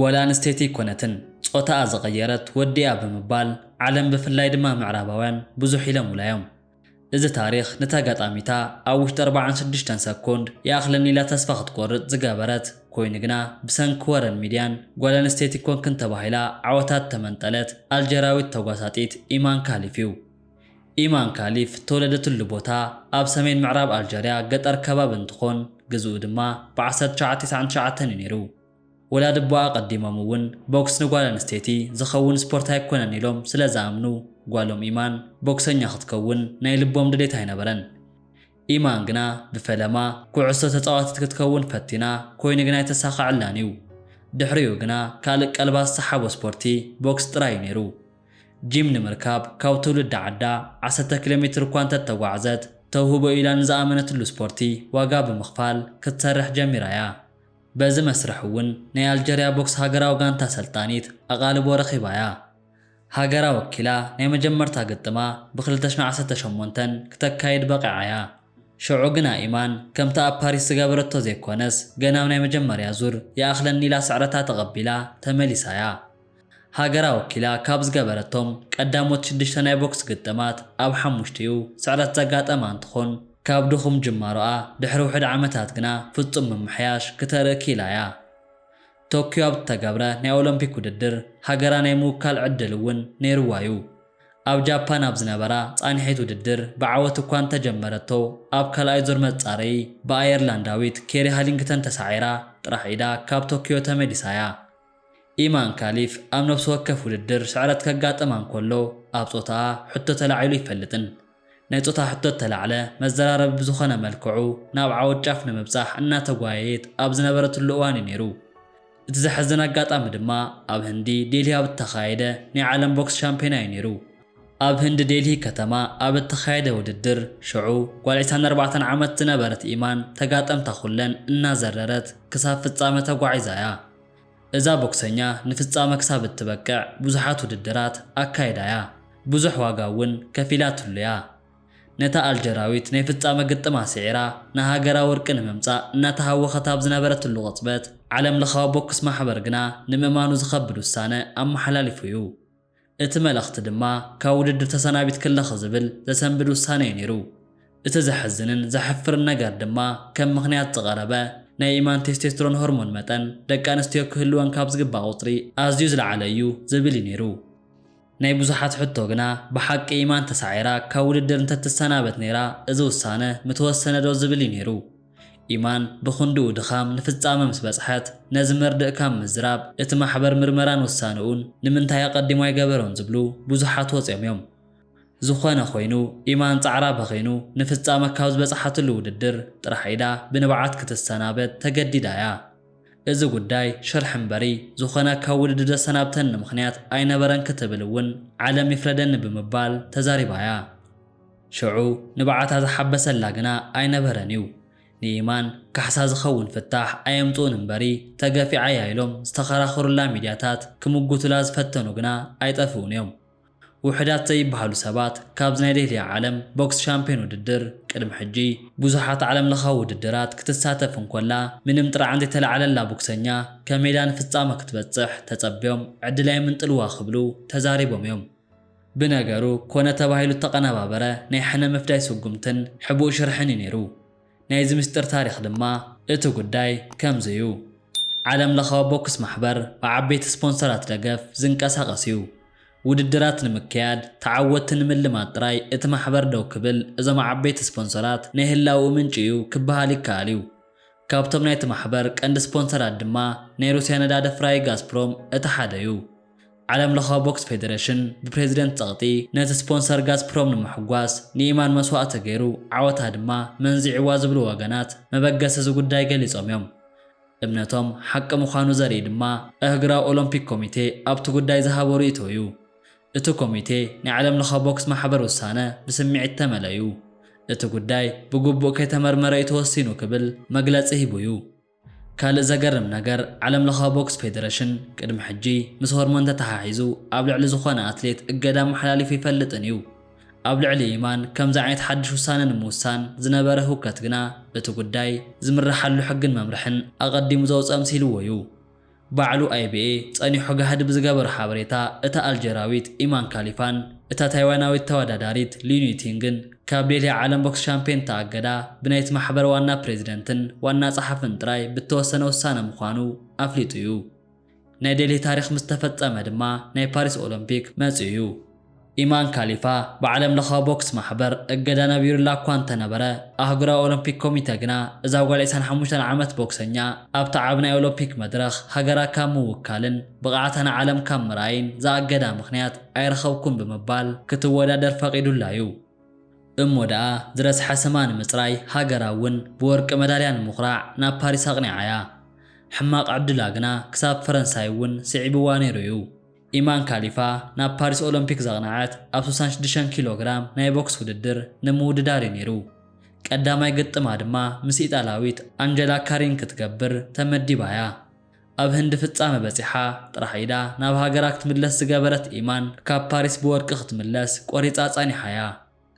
ጓል ኣንስተይቲ ኣይኮነትን ጾታኣ ዝቐየረት ወዲ እያ ብምባል ዓለም ብፍላይ ድማ ምዕራባውያን ብዙሕ ኢሎሙላ እዮም። እዚ ታሪኽ ነታ ኣጋጣሚታ ኣብ ውሽጢ ኣርባዓን ሽዱሽተን ሰኮንድ ይኣኽለኒ ኢላ ተስፋ ክትቆርጽ ዝገበረት ኮይኑ ግና ብሰንኪ ወረን ሚድያን ጓል ኣንስተይቲ ኮንክን ተባሂላ ዓወታ እተመንጠለት ኣልጀራዊት ተጓሳጢት ኢማን ካሊፍ እዩ። ኢማን ካሊፍ እተወለደትሉ ቦታ ኣብ ሰሜን ምዕራብ ኣልጀርያ ገጠር ከባቢ እንትኾን ግዝኡ ድማ ብ ዓሰርተ ትሽዓተ ቴስዓን ትሽዓተን እዩ ነይሩ። ወላዲ እቦኣ ኣቐዲሞም እውን ቦክስ ንጓል ኣንስተይቲ ዝኸውን ስፖርት ኣይኮነን ኢሎም ስለ ዝኣምኑ ጓሎም ኢማን ቦክሰኛ ክትከውን ናይ ልቦም ድሌት ኣይነበረን። ኢማን ግና ብፈለማ ኩዕሶ ተጻዋቲት ክትከውን ፈቲና ኮይኑ ግን ኣይተሳኸዐላን እዩ። ድሕሪኡ ግና ካልእ ቀልባ ዝሰሓቦ ስፖርቲ ቦክስ ጥራይ እዩ ነይሩ። ጂም ንምርካብ ካብ ትውልዲ ዓዳ ዓሰርተ ኪሎ ሜትር እኳ እንተተጓዕዘት ተውህቦ እዩ ኢላ ንዝኣመነትሉ ስፖርቲ ዋጋ ብምኽፋል ክትሰርሕ ጀሚራ እያ። በዚ መስርሕ እውን ናይ ኣልጀርያ ቦክስ ሃገራዊ ጋንታ ኣሰልጣኒት ኣቓልቦ ረኺባ እያ። ሃገራ ወኪላ ናይ መጀመርታ ግጥማ ብ ክልተ ሽሕ ዓሰርተ ሸሞንተ ክተካይድ በቒዓ እያ። ሽዑ ግና ኢማን ከምቲ ኣብ ፓሪስ ዝገበረቶ ዘይኮነስ ገና ብ ናይ መጀመርያ ዙር ይኣኽለኒ ኢላ ስዕረታ ተቐቢላ ተመሊሳ እያ። ሃገራ ወኪላ ካብ ዝገበረቶም ቀዳሞት ሽዱሽተ ናይ ቦክስ ግጥማት ኣብ ሓሙሽቲኡ ስዕረት ዘጋጠማ እንትኾን፣ ካብ ድኹም ጅማሮኣ ድሕሪ ውሑድ ዓመታት ግና ፍፁም ምምሕያሽ ክተርኢ ክኢላ እያ። ቶክዮ ኣብ ዝተገብረ ናይ ኦሎምፒክ ውድድር ሃገራ ናይ ምውካል ዕድል እውን ነይሩዋ እዩ። ኣብ ጃፓን ኣብ ዝነበራ ፃንሒት ውድድር ብዓወት እኳ እንተጀመረቶ ኣብ ካልኣይ ዙር መፃረዪ ብኣየርላንዳዊት ኬሪ ሃሊንግተን ተሳዒራ ጥራሕ ኢዳ ካብ ቶክዮ ተመሊሳ እያ። ኢማን ካሊፍ ኣብ ነብሲ ወከፍ ውድድር ስዕረት ከጋጥማ እንከሎ ኣብ ጾታኣ ሕቶ ተላዒሉ ኣይፈልጥን። ናይ ጾታ ሕቶ እተላዕለ መዘራረቢ ብዝኾነ መልክዑ ናብ ዓወት ጫፍ ንምብጻሕ እናተጓየየት ኣብ ዝነበረትሉ እዋን'ዩ ነይሩ። እቲ ዘሕዝን ኣጋጣሚ ድማ ኣብ ህንዲ ዴልሂ ኣብ እተኻየደ ናይ ዓለም ቦክስ ሻምፕዮና'ዩ ነይሩ። ኣብ ህንዲ ዴልሂ ከተማ ኣብ እተኻየደ ውድድር፣ ሽዑ ጓል ዒስራን ኣርባዕተን ዓመት ዝነበረት ኢማን ተጋጠምታ ኹለን እናዘረረት ክሳብ ፍጻመ ተጓዒዛ እያ። እዛ ቦክሰኛ ንፍጻመ ክሳብ እትበቅዕ ብዙሓት ውድድራት ኣካይዳ እያ፣ ብዙሕ ዋጋ እውን ከፊላትሉ እያ። ነታ ኣልጀራዊት ናይ ፍጻመ ግጥማ ስዒራ ንሃገራ ወርቂ ንምምጻእ እናተሃወኸት ኣብ ዝነበረትሉ ቅጽበት፣ ዓለምለኻዊ ቦክስ ማሕበር ግና ንምእማኑ ዝኸብድ ውሳነ ኣመሓላሊፉ እዩ። እቲ መልእኽቲ ድማ ካብ ውድድር ተሰናቢትኪ ኣለኺ ዝብል ዘሰንብድ ውሳኔ'ዩ ነይሩ። እቲ ዘሕዝንን ዘሕፍርን ነገር ድማ ከም ምኽንያት ዝቐረበ ናይ ኢማን ቴስቴስትሮን ሆርሞን መጠን ደቂ ኣንስትዮ ክህልወን ካብ ዝግባእ ቁጽሪ ኣዝዩ ዝለዓለ እዩ ዝብል'ዩ ነይሩ። ናይ ብዙሓት ሕቶ ግና ብሓቂ ኢማን ተሳዒራ ካብ ውድድር እንተትሰናበት ነይራ እዚ ውሳነ ምተወሰነ'ዶ ዝብል'ዩ ነይሩ። ኢማን ብኽንድኡ ድኻም ንፍጻመ ምስ በጽሐት፣ ነዚ መርድእ ካብ ምዝራብ፣ እቲ ማሕበር ምርመራን ውሳነኡን ንምንታይ ኣቐዲሙ ኣይገበሮን ዝብሉ ብዙሓት ወጺኦም እዮም። ዝኾነ ኮይኑ፣ ኢማን ጻዕራ በኺኑ ንፍጻመ ካብ ዝበጽሓትሉ ውድድር ጥራሕ ኢዳ ብንብዓት ክትሰናበት ተገዲዳ እያ። እዚ ጉዳይ ሽርሒ እምበሪ፣ ዝኾነ ካብ ውድድር ዘሰናብተኒ ምኽንያት ኣይነበረን ክትብል እውን ዓለም ይፍረደኒ ብምባል ተዛሪባ እያ። ሽዑ ንብዓታ ዝሓበሰላ ግና ኣይነበረን እዩ። ንይማን ካሕሳ ዝኸውን ፍታሕ ኣየምጽኡን እምበሪ ተገፊዓ እያ ኢሎም ዝተኸራኸሩላ ሚድያታት ክምጉቱላ ዝፈተኑ ግና ኣይጠፍኡን እዮም። ውሕዳት ዘይብሃሉ ሰባት ካብዚ ናይ ዴህልያ ዓለም ቦክስ ሻምፕዮን ውድድር ቅድሚ ሕጂ ብዙሓት ዓለም ለኻዊ ውድድራት ክትሳተፍ እንኮላ ምንም ጥርዓን ዘይተላዕለላ ቦክሰኛ ከመይዳ ንፍጻመ ክትበጽሕ ተጸብዮም ዕድላ የምንጥልዋ ክብሉ ተዛሪቦም እዮም። ብነገሩ ኮነ ተባሂሉ እተቐነባበረ ናይ ሕነ ምፍዳይ ስጉምትን ሕቡእ ሽርሕን እዩ ነይሩ። ናይዚ ምስጢር ታሪኽ ድማ እቲ ጉዳይ ከምዚ እዩ። ዓለም ለኻዊ ቦክስ ማሕበር ብዓበይቲ ስፖንሰራት ደገፍ ዝንቀሳቐስ እዩ። ውድድራት ንምክያድ፣ ተዓወትቲ ንምልማድ ጥራይ እቲ ማሕበር ደው ክብል እዞም ዓበይቲ ስፖንሰራት ናይ ህላውኡ ምንጪ እዩ ክበሃል ይከኣል እዩ። ካብቶም ናይቲ ማሕበር ቀንዲ ስፖንሰራት ድማ ናይ ሩስያ ነዳዲ ኣፍራዪ ጋዝፕሮም እቲ ሓደ እዩ። ዓለምለኻዊ ቦክስ ፌደረሽን ብፕሬዚደንት ፀቕጢ ነቲ ስፖንሰር ጋዝፕሮም ንምሕጓስ ንኢማን መስዋእቲ ተገይሩ ዓወታ ድማ መንዚዕዋ ዝብሉ ወገናት መበገሲ እዚ ጉዳይ ገሊፆም እዮም። እምነቶም ሓቂ ምዃኑ ዘርኢ ድማ ኣህግራዊ ኦሎምፒክ ኮሚቴ ኣብቲ ጉዳይ ዝሃቦ ርእይቶ እዩ። እቲ ኮሚቴ ናይ ዓለምለኻዊ ቦክስ ማሕበር ውሳነ ብስምዒት እተመልአ እዩ። እቲ ጉዳይ ብግቡእ ከይተመርመረ እዩ ተወሲኑ ክብል መግለፂ ሂቡ እዩ። ካልእ ዘገርም ነገር፣ ዓለም ለኻዊ ቦክስ ፌደረሽን ቅድሚ ሕጂ ምስ ሆርሞን ተተሓሒዙ ኣብ ልዕሊ ዝኾነ ኣትሌት እገዳ ኣመሓላሊፉ ኣይፈልጥን እዩ። ኣብ ልዕሊ ኢማን ከምዚ ዓይነት ሓድሽ ውሳነ ንምውሳን ዝነበረ ህውከት ግና እቲ ጉዳይ ዝምረሓሉ ሕግን መምርሕን ኣቐዲሙ ዘውጽኣ ምሲልዎ እዩ። ባዕሉ ኣይብኤ ጸኒሖ ጋህዲ ብዝገበሮ ሓበሬታ፣ እታ ኣልጀርያዊት ኢማን ካሊፋን እታ ታይዋናዊት ተወዳዳሪት ሊን ዩቲንግን ካብ ዴልሂ ዓለም ቦክስ ሻምፕዮን እተኣገዳ ብናይቲ ማሕበር ዋና ፕሬዚደንትን ዋና ጸሓፍን ጥራይ ብእተወሰነ ውሳነ ምዃኑ ኣፍሊጡ እዩ። ናይ ዴልሂ ታሪኽ ምስ ተፈጸመ ድማ ናይ ፓሪስ ኦሎምፒክ መጺኡ እዩ። ኢማን ካሊፋ፣ ብዓለምለኻዊ ቦክስ ማሕበር እገዳ ነቢሩላ እኳ እንተነበረ፣ ኣህጉራዊ ኦሎምፒክ ኮሚተ ግና እዛ ጓል ዒስራን ሓሙሽተን ዓመት ቦክሰኛ ኣብቲ ዓቢ ናይ ኦሎምፒክ መድረኽ ሃገራ ካብ ምውካልን ብቕዓታ ንዓለም ካብ ምርኣይን ዝኣገዳ ምኽንያት ኣይረኸብኩን ብምባል ክትወዳደር ፈቒዱላ'ዩ። እሞ ደኣ ዝረስሐ ስማ ንምጽራይ ሃገራ እውን ብወርቂ መዳልያ ንምኹራዕ ናብ ፓሪስ ኣቕኒዓ'ያ። ሕማቕ ዕድላ ግና ክሳብ ፈረንሳይ እውን ስዒብዋ ነይሩ'ዩ። ኢማን ካሊፋ ናብ ፓሪስ ኦሎምፒክ ዘቕነዐት ኣብ ስሳን ሽዱሽተን ኪሎ ግራም ናይ ቦክስ ውድድር ንምውድዳር እዩ ነይሩ። ቀዳማይ ግጥማ ድማ ምስ ኢጣልያዊት ኣንጀላ ካሪን ክትገብር ተመዲባ እያ። ኣብ ህንዲ ፍጻመ በጺሓ ጥራሕ ኢዳ ናብ ሃገራ ክትምለስ ዝገበረት ኢማን ካብ ፓሪስ ብወርቂ ክትምለስ ቆሪጻ ጸኒሓ እያ።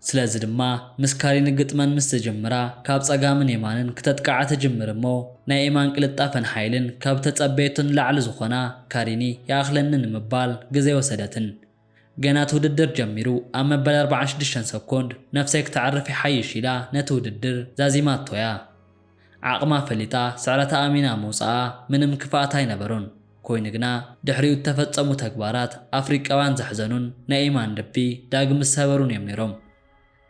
ስለዚ ድማ ምስ ካሪን ግጥመን ምስ ዝጅምራ ካብ ጸጋምን የማንን ክተጥቅዓ ትጅምር እሞ ናይ ኤማን ቅልጣፈን ሓይልን ካብ እተጸበየቶ ንላዕሊ ዝኾና ካሪኒ ይኣኽለኒ ንምባል ግዜ ኣይወሰደትን ገና እቲ ውድድር ጀሚሩ ኣብ መበል ኣርብዓን ሽዱሽተን ሰኮንድ ነፍሰይ ክተዕርፍ ይሓይሽ ኢላ ነቲ ውድድር ዛዚማቶ'ያ። ዓቕማ ፈሊጣ ስዕረታ ኣሚና ምውጻኣ ምንም ክፍኣት ኣይነበሮን። ኮይኑ ግና ድሕሪኡ እተፈጸሙ ተግባራት ኣፍሪቃውያን ዘሕዘኑን ናይ ኢማን ልቢ ዳግም ዝሰበሩን እዮም ነይሮም።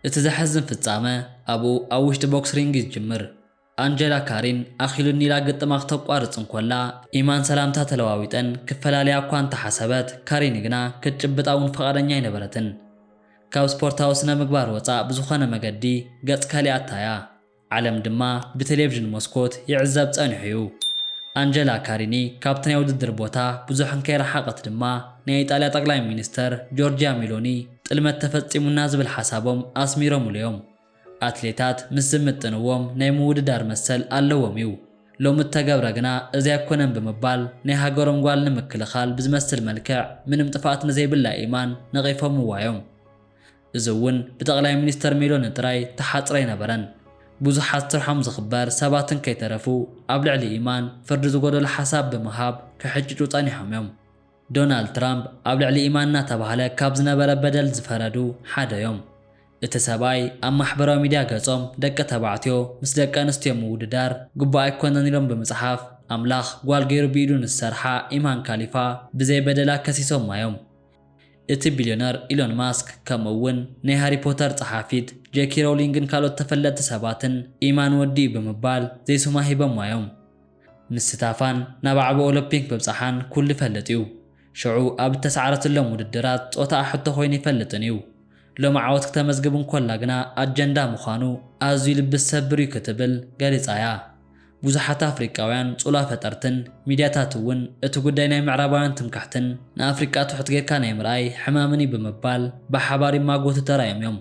እቲ ዘሕዝን ፍጻመ ኣብኡ ኣብ ውሽጢ ቦክስ ሪንግ እዩ ዝጅምር። ኣንጀላ ካሪን ኣኺሉኒ ኢላ ግጥማ ክተቋርጽ እንኮላ ኢማን ሰላምታ ተለዋዊጠን ክፈላለያ እኳ እንተሓሰበት ካሪን ግና ክትጭብጣ እውን ፍቓደኛ ኣይነበረትን። ካብ ስፖርታዊ ስነ-ምግባር ወጻእ ብዝኾነ መገዲ ገጽ ከሊኣታ እያ። ዓለም ድማ ብቴሌቭዥን መስኮት ይዕዘብ ጸኒሑ'ዩ። ኣንጀላ ካሪኒ ካብቲ ናይ ውድድር ቦታ ብዙሕ እንከይረሓቐት ድማ ናይ ኢጣልያ ጠቕላይ ሚኒስተር ጆርጂያ ሚሎኒ ጥልመት ተፈጺሙና ዝብል ሓሳቦም ኣስሚሮምሉ'ዮም። ኣትሌታት ምስ ዝምጥንዎም ናይ ምውድዳር መሰል ኣለዎም'ዩ። ሎሚ እተገብረ ግና እዚ ኣይኮነን ብምባል ናይ ሃገሮም ጓል ንምክልኻል ብዝመስል መልክዕ ምንም ጥፍኣት ንዘይብላ ኤማን ነቒፎምዋ'ዮም። እዚ እውን ብጠቕላይ ሚኒስተር ሜሎኒ ጥራይ ተሓጽረ ኣይነበረን። ብዙሓት ስርሖም ዝኽበር ሰባትን ከይተረፉ ኣብ ልዕሊ ኢማን ፍርዲ ዝጎደሎ ሓሳብ ብምሃብ ክሕጭጩ ጸኒሖም እዮም። ዶናልድ ትራምፕ ኣብ ልዕሊ ኢማን እናተባህለ ካብ ዝነበረ በደል ዝፈረዱ ሓደ እዮም። እቲ ሰብኣይ ኣብ ማሕበራዊ ሚድያ ገጾም ደቂ ተባዕትዮ ምስ ደቂ ኣንስትዮ ምውድዳር ግቡእ ኣይኮነን ኢሎም ብምጽሓፍ ኣምላኽ ጓል ገይሩ ብኢዱ ንዝሰርሓ ኢማን ካሊፋ ብዘይ በደላ ከሲሶማ እዮም። እቲ ቢልዮነር ኢሎን ማስክ ከምኡ'ውን ናይ ሃሪ ፖተር ጸሓፊት ጄኪ ሮውሊንግን ካልኦት ተፈለጥቲ ሰባትን ኢማን ወዲኡ ብምባል ዘይሱማ ሂበሟ'ዮም። ምስታፋን ናብ ኣዕቢ ኦሎፒንክ ምብጻሓን ኩሉ ይፈልጥ'ዩ። ሽዑ ኣብ እተሳዕረትሎም ውድድራት ጾታኣ ሕቶ ኮይኑ ኣይፈልጥን'ዩ። ሎሚ ዓወት ክተመዝግብ እንኮላ ግና ኣጀንዳ ምዃኑ ኣዝዩ ልቢ ዝሰብር'ዩ ክትብል ገሊጻ'ያ። ብዙሓት ኣፍሪቃውያን ጹላ ፈጠርትን ሚድያታት እውን እቲ ጉዳይ ናይ ምዕራባውያን ትምክሕትን ንኣፍሪቃ ትሑት ጌርካ ናይ ምርኣይ ሕማምን እዩ ብምባል ብሓባር ይማጎቱ ተራእዮም እዮም።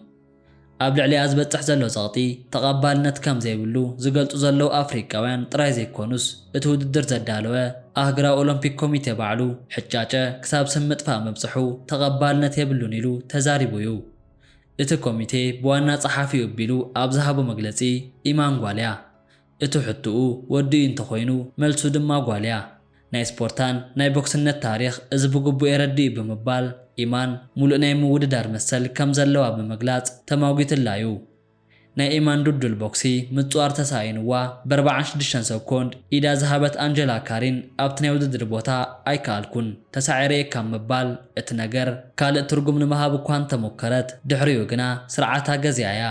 ኣብ ልዕሊኣ ዝበጽሕ ዘሎ ጸቕጢ ተቐባልነት ከም ዘይብሉ ዝገልጹ ዘለዉ ኣፍሪቃውያን ጥራይ ዘይኮኑስ እቲ ውድድር ዘዳለወ ኣህግራዊ ኦሎምፒክ ኮሚቴ ባዕሉ ሕጫጨ ክሳብ ስም ምጥፋእ ምብጽሑ ተቐባልነት የብሉን ኢሉ ተዛሪቡ እዩ። እቲ ኮሚቴ ብዋና ጸሓፊኡ ኣቢሉ ኣብ ዝሃቦ መግለጺ፣ ኢማን ጓል'ያ። እቱ ሕቱኡ ወዲ'ዩ እንተኾይኑ መልሱ ድማ ጓል'ያ። ናይ ስፖርታን ናይ ቦክስነት ታሪኽ እዚ ብግቡእ የረድእ'ዩ ብምባል ኢማን ሙሉእ ናይ ምውድዳር መሰል ከምዘለዋ ብምግላጽ ተማጒትላ'ዩ። ናይ ኤማን ድልዱል ቦክሲ ምጽዋር ተሳኢኑዋ በርብዓን ሽዱሽተን ሰኮንድ ኢዳ ዝሃበት ኣንጀላ ካሪን ኣብቲ ናይ ውድድር ቦታ ኣይከኣልኩን ተሳዒረ'የ ካብ ምባል እቲ ነገር ካልእ ትርጉም ንምሃብ እኳ እንተሞከረት ድሕሪኡ ግና ስርዓታ ገዚኣ'ያ።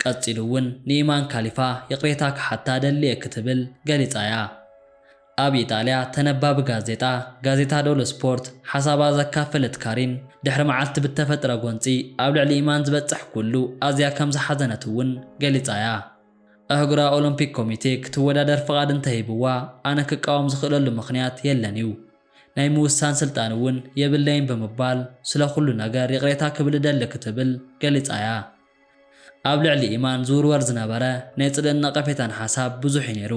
ቀጺሉ'ውን ንኤማን ካሊፋ ይቕሬታ ክሓታ ደሊ'የ ክትብል ገሊጻ'ያ። ኣብ ኢጣልያ ተነባቢ ጋዜጣ ጋዜታ ዶሎ ስፖርት ሓሳባ ዘካፈለት ካሪን፣ ድሕሪ መዓልቲ ብተፈጥረ ጎንጺ ኣብ ልዕሊ ኢማን ዝበጽሕ ኩሉ ኣዝያ ከም ዝሓዘነት እውን ገሊጻ'ያ። ኣህጉራዊ ኦሎምፒክ ኮሚቴ ክትወዳደር ፍቓድ እንተ ሂብዋ ኣነ ክቃወም ዝኽእለሉ ምኽንያት የለን'ዩ። ናይ ምውሳን ስልጣን እውን የብለይን ብምባል ስለ ኩሉ ነገር ይቕሬታ ክብል እደሊ ክትብል ገሊጻ'ያ። ኣብ ልዕሊ ኢማን ዝውርወር ዝነበረ ናይ ጽልእን ነቐፌታን ሓሳብ ብዙሕ'ዩ ነይሩ።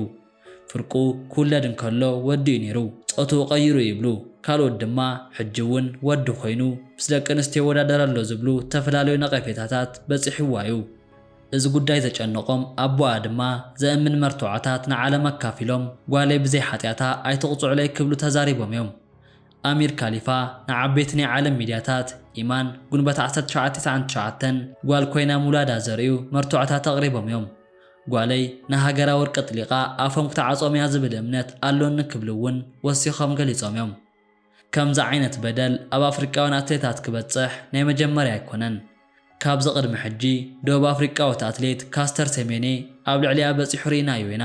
ፍርቁ ክውለድ እንከሎ ወዲ'ዩ ነይሩ፣ ጾትኡ ቀይሩ ይብሉ፣ ካልኦት ድማ ሕጂ'ውን ወዲ ኮይኑ ምስ ደቂ ኣንስትዮ ይወዳደር ኣሎ ዝብሉ ዝተፈላለዩ ነቐፌታታት በጺሕዋ'ዩ። እዚ ጉዳይ ዘጨነቖም ኣቦኣ ድማ ዘእምን መርትዖታት ንዓለም ኣካፊሎም ጓለይ ብዘይ ሓጢኣታ ኣይትቕጽዑለይ ክብሉ ተዛሪቦም'ዮም። ኣሚር ካሊፋ ንዓበይቲ ናይ ዓለም ሚድያታት፣ ኢማን፣ ጉንበት ዓሰርተ ትሽዓተ ትስዓን ትሽዓተን፣ ጓል ኮይና ምውላዳ ዘርእዩ መርትዖታት ኣቕሪቦም እዮም። ጓለይ ንሃገራ ወርቂ ኣጥሊቓ ኣፎም ክትዓጾም እያ ዝብል እምነት ኣሎኒ ክብሉ እውን ወሲኾም ገሊጾም እዮም። ከምዚ ዓይነት በደል ኣብ ኣፍሪቃውያን ኣትሌታት ክበጽሕ ናይ መጀመርያ ኣይኮነን። ካብዚ ቅድሚ ሕጂ ደቡብ ኣፍሪቃዊት ኣትሌት ካስተር ሴሜኔ ኣብ ልዕሊኣ በጺሑ ርኢናዮ ኢና።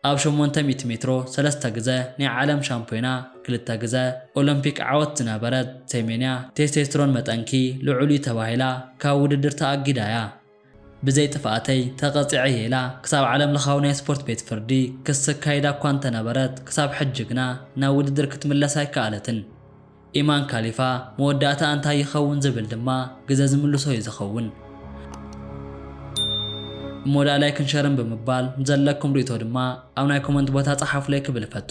ኣብ ሸሞንተ ሚእቲ ሜትሮ ሰለስተ ግዘ ናይ ዓለም ሻምፕዮና ክልተ ግዘ ኦሎምፒክ ዓወት ዝነበረት ሴሜንያ ቴስቴስትሮን መጠንኪ ልዑል እዩ ተባሂላ ካብ ውድድር ተኣጊዳ እያ። ብዘይ ጥፍኣተይ ተቐፂዐ እየ ኢላ ክሳብ ዓለምለኻዊ ናይ ስፖርት ቤት ፍርዲ ክሲ ኣካይዳ እኳ እንተነበረት ክሳብ ሕጂ ግና ናብ ውድድር ክትምለስ ኣይከኣለትን። ኢማን ካሊፋ መወዳእታ እንታይ ይኸውን ዝብል ድማ ግዘ ዝምልሶ ዩ ዝኸውን። እሞ ዳኣ ላይክን ሸርን ብምባል ንዘለኩም ሪኢቶ ድማ ኣብ ናይ ኮመንት ቦታ ጸሓፉለይ ክብል እፈቱ።